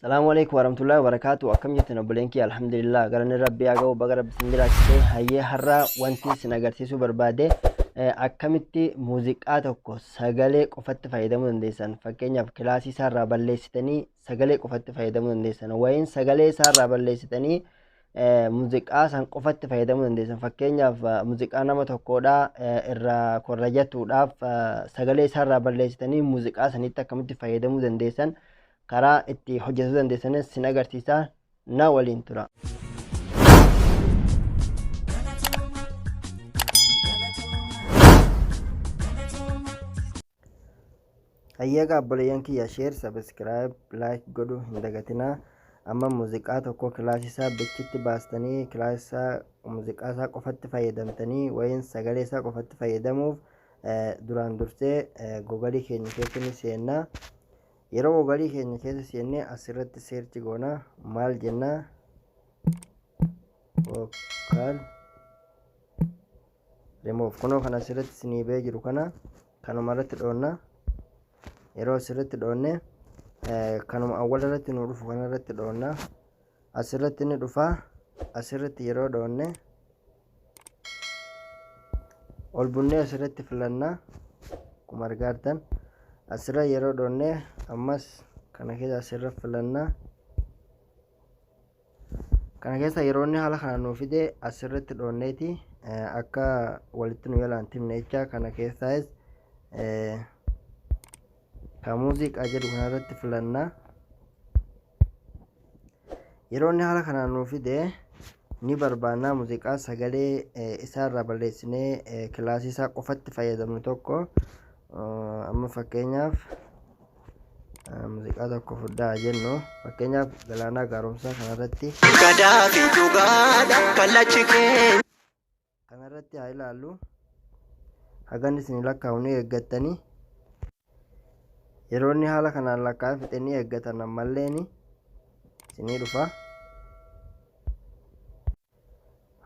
Salaamu alaikum warahmatullahi wabarakatuh akkam jirtan obboleen kiyya alhamdulillah galanni rabbii haa ga'u baga rabbi isin jiraachise hayyee har'a wanti isin agarsiisuu barbaade eh, akkamitti muuziqaa tokko sagalee qofatti fayyadamuu dandeessan fakkeenyaaf kilaasii isaarraa balleessitanii sagalee qofatti fayyadamuu dandeessan wayiin sagalee isaarraa balleessitanii eh, muuziqaa san qofatti fayyadamuu dandeessan fakkeenyaaf eh, muuziqaa nama tokkoodha eh, irraa korrajatuudhaaf eh, sagalee isaarraa balleessitanii muuziqaa sanitti akkamitti fayyadamuu dandeessan karaa itti hojjetuu dandeessanis sin agarsiisa na waliin tura. Hayyeegaa obboleeyyan kiyya sheer sabiskiraayib laayik godhu hin dagatinaa amma muuziqaa tokko kilaasisaa bichitti baastanii kilaasisaa muuziqaa isaa qofatti fayyadamtanii wayiin sagalee isaa qofatti fayyadamuuf duraan dursee gogalii keenya keessatti ni seennaa. Yeroo mobailii keenya keessa seennee as irratti seerchi goona maal jenna vocal remove kunoo kan as irratti isinii ba'ee jiru kana kanuma irratti dhoonna yeroo as irratti dhoonne eh, kanuma awwala irratti nu dhufu kana irratti dhoonna as irratti ni dhufa as irratti yeroo dhoonne ol bunnee asirratti filanna akkuma argaa jirtan asirra yeroo dhoonne ammas kana keessa asirra filanna kana keessa yeroo inni haala kana nuu fide asirratti dhoonneeti akka walitti nu yalaan timne jecha kana keessaas ka muuziqaa jedhu kanarratti filanna. Yeroo inni haala kanaan nuu fide ni barbaannaa muuziqaa sagalee isaarraa balleessinee kilaasii isaa qofatti fayyadamnu tokko amma fakkeenyaaf muuziqaa tokko fudhaa jennu fakkeenyaaf galaanaa gaaromsaa kanarratti. Gadaa fi dhugaadha kallachi keenya. Kana irratti haa ilaallu. Hagan isin lakkaa'u ni eeggattanii. Yeroo inni haala kanaan lakkaa'ee fixe ni eeggatan ammalleen isinii dhufa.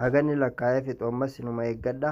Hagan inni lakkaa'ee fixu ammas inuma eeggadha.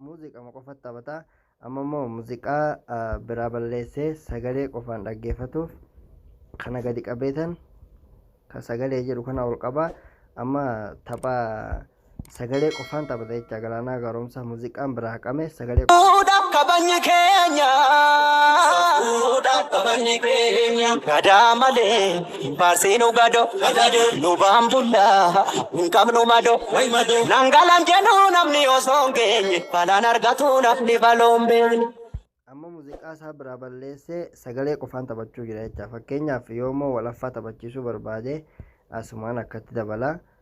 muuziqama qofatti taphata amma immoo muuziqaa ah, biraa balleessee sagalee qofaan dhaggeeffatuuf kana gadi qabeetan ka sagalee jedhu kana ol qaba amma tapha sagalee qofaan taphata jecha galaanaa gaaromsaa muuziqaan biraa haqame sagalee Fuudhaaf kabajni keenya. Fuudhaaf kabajni keenya. Gadaa malee. Baasinu gado lubaan bulla hin qabnu mado nangalan jedhu namni osoo hin geenye balaan argatu namni baloon beekne. amma muuziqaa isaa biraa balleessee sagalee qofaan taphachuu jira jecha fakkeenyaaf yoomoo walaffaa taphachiisuu barbaade asumaan akkatti dabala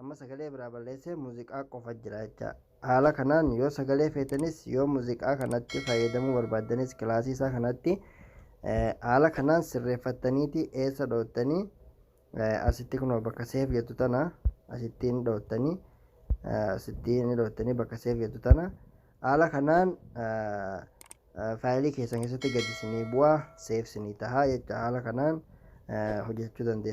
Amma sagalee biraa balleessee muuziqaa qofa jira jecha. Haala kanaan yoo sagalee feetanis yoo muuziqaa kanatti fayyadamuu barbaaddanis kilaasii isaa kanatti haala kanaan sirreeffattaniiti eessa dhoottanii asitti kunoo bakka seef jettu tana asittiin dhoottanii asittiin dhoottanii bakka seef jettu tana haala kanaan faayilii keessan keessatti gadi isinii bu'aa seef isinii tahaa jecha haala kanaan hojjechuu dandeessu.